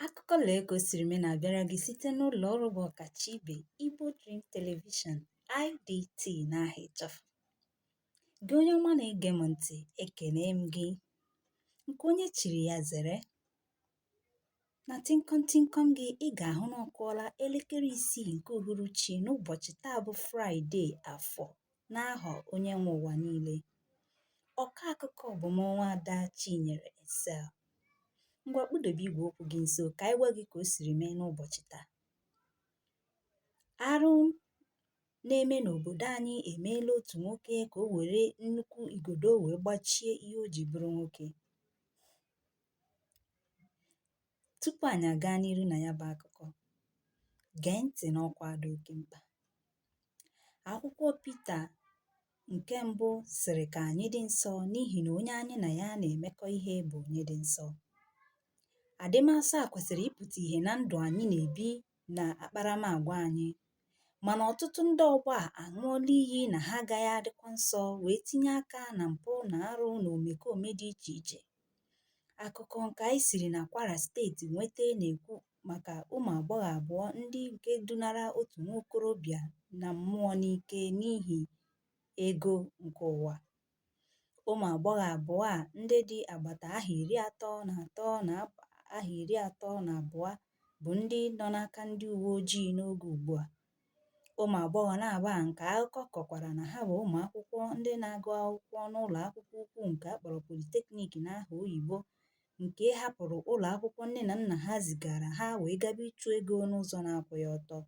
Akụkọ lee ka o siri mee na-abịara gị site n'ụlọ ọrụ bụ ọkacha ibe Igbo Dream Television IDT n'aha ịchafụ. Gị onye ọma na-ege m ntị, ekene m gị. Nke onye chiri ya zere. Na tịnkọm tịnkọm gị, ị ga-ahụ na ọ kụọla elekere isii nke uhuruchi n'ụbọchị taa bụ Fraịde Afọ n'aha onye nwe ụwa niile ọkọ akụkọ bụ m nwaada chinyere excel ngwa kpụdobe igwe okwu gị nso ka anyị gwa gị ka o siri mee n'ụbọchị taa arụ na-eme n'obodo anyị emeela otu nwoke ka o were nnukwu igodo o wee gbachie ihe o ji bụrụ nwoke tupu anyị agaa n'iru na ya bụ akụkọ gee ntị n'ọkwa dị oke mkpa Akwụkwọ Pita nke mbụ sịrị ka anyị dị nsọ n'ihi na onye anyị na ya na-emekọ ihe bụ onye dị nsọ. Adịmasọ a kwesịrị ịpụta ihe na ndụ anyị na-ebi na akparamagwa anyị mana ọtụtụ ndị ọgbọ a aṅụọla iyi na ha agaghị adịkwa nsọ wee tinye aka na mpụ na arụ na omekome dị iche iche. Akụkọ nke anyị siri na Kwara steeti nweta na-ekwu maka ụmụ agbọghọ abụọ ndị nke dunara otu nwa okorobịa na mmụọ n'ike n'ihi ego nke ụwa. Ụmụ agbọghọ abụọ a ndị dị agbata ahọ iri atọ na atọ na ahọ iri atọ na abụọ bụ ndị nọ n'aka ndị uwe ojii n'oge ugbu a. Ụmụ agbọghọ naabọ a nke akụkọ kọkwara na ha bụ ụmụ akwụkwọ ndị na-agụ akwụkwọ n'ụlọ akwụkwọ ukwu nke a kpọrọ Polytechnic n'aha oyibo nke hapụrụ ụlọ akwụkwọ nne na nna ha zigara ha wee gaba ịchụ ego n'ụzọ na-akwụghị ọtọ.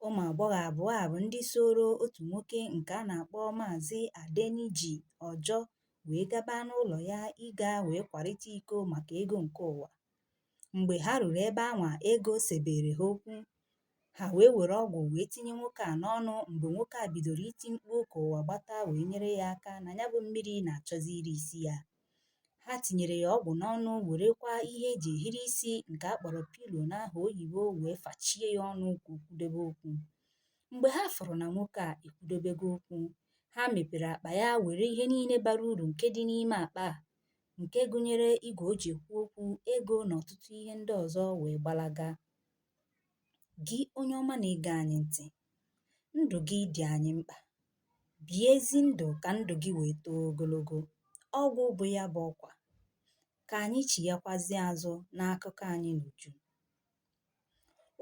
Ụmụ agbọghọ abụọ a bụ ndị sooro otu nwoke nke a na-akpọ Maazị Adeniji Ojo wee gaba n'ụlọ ya ịga wee kwarịta iko maka ego nke ụwa. Mgbe ha ruru ebe anwa, ego sebere ha okwu. Ha wee were ọgwụ wee tinye nwoke a n'ọnụ mgbe nwoke a bidoro iti mkpu ka ụwa gbata wee nyere ya aka na ya bụ mmiri na-achọzi iri isi ya. Ha tinyere ya ọgwụ n'ọnụ werekwa ihe e ji ehiri isi nke a kpọrọ pillow n'aha oyibo wee fachie ya ọnụ ka o kwudobe okwu. Mgbe ha fụrụ na nwoke a ekwudobego okwu, ha mepere akpa ya were ihe niile bara uru nke dị n'ime akpa a nke gụnyere igwe o ji ekwu okwu, ego na ọtụtụ ihe ndị ọzọ wee gbalaga. Gị onye ọma na-ege anyị ntị, ndụ gị dị anyị mkpa. bie ezi ndụ̀ kà ndụ̀ gị wèe too ogologo ọgwụ̀ bụ̀ ya bụ̀ ọkwà kà ànyị chìghakwazie azụ̇ n'akụkọ anyị n'ùju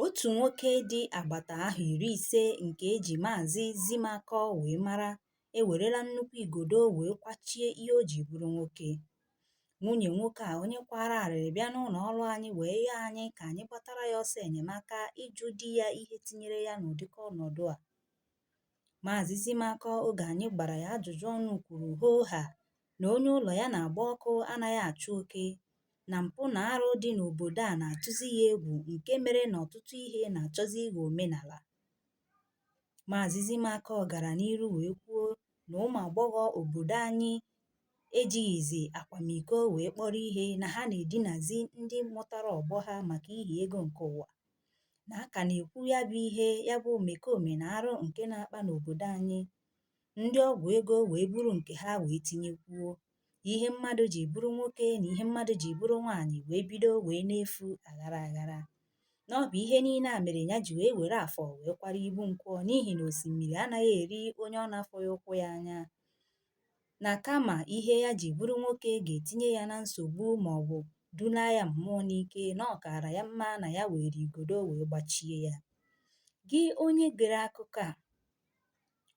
otù nwokė dị àgbàtà ahọ̀ ìri ìse ǹkè ejì maàzị Zimakọ wèe mara e wèrela nnukwu ìgòdò wèe kwachie ihe o jì bụrụ nwokė nwunyè nwokė à onye kwara àrịrị bịa n'ụlọ̀ ọrụ anyị wèe yọọ anyị kà ànyị gbatara ya ọsọ ènyèmaka ịjụ̇ di ya ihe tinyere ya n'ụ̀dịka ọnọ̀dụ à Maazị Zimakọ oge anyị gbara ya ajụjụ ọnụ kwuru hoo haa na onye ụlọ ya na-agba ọkụ anaghị achụ oke na mpụ na arụ dị n'obodo a na-atụzi ya egwu nke mere na ọtụtụ ihe na-achọzi ịghọ omenala. Maazị Zimakọ gara n'iru wee kwuo na ụmụ agbọghọ obodo anyị ejighịzi akwamiko wee kpọrọ ihe na ha na-edinazi ndị mụtara ọgbọ ha maka ihi ego nke ụwa. na a ka na-ekwu ya bụ ihe ya bụ omekome na arụ nke na-akpa n'obodo anyị ndị ọgwụ ego wee buru nke ha wee tinyekwuo ihe mmadụ ji bụrụ nwoke na ihe mmadụ ji bụrụ nwaanyị wee bido wee na-efu aghara aghara na ọ bụ ihe niile a mere ya ji wee were afọ wee kwara ibu nkwọ n'ihi na osimiri anaghị eri onye ọ na-afụghị ụkwụ ya anya na kama ihe ya ji bụrụ nwoke ga-etinye ya na nsogbu ma ọ bụ dunaa ya mmụọ n'ike na ọ kaara ya mma na ya were igodo wee gbachie ya. Gị onye gere akụkọ a,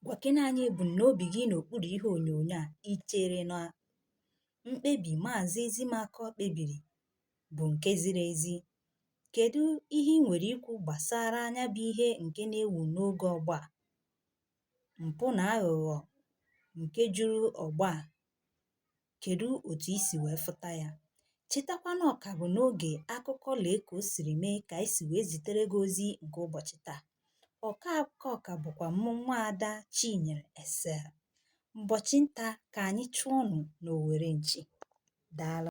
gwakena anyị ebumnobi gị n'okpuru ihe onyonyo a. I chere na mkpebi Maazị Zimakọ kpebiri bụ nke ziri ezi? Kedụ ihe i nwere ikwu gbasara nya bụ ihe nke na-ewu n'oge ọgbọ a? mpụ na aghụghọ nke juru ọgbọ a, kedụ otu i si wee fụta ya? Chetakwa na ọ ka bụ n'oge akụkọ lee ka o siri mee ka anyị si wee zitere gị ozi nke ụbọchị taa. Ọkọ akụkọ ka bụkwa mụ nwaada Chinyere Excel. Ụbọchị nta ka anyị chụọnụ n'owere nchi. Daalụ.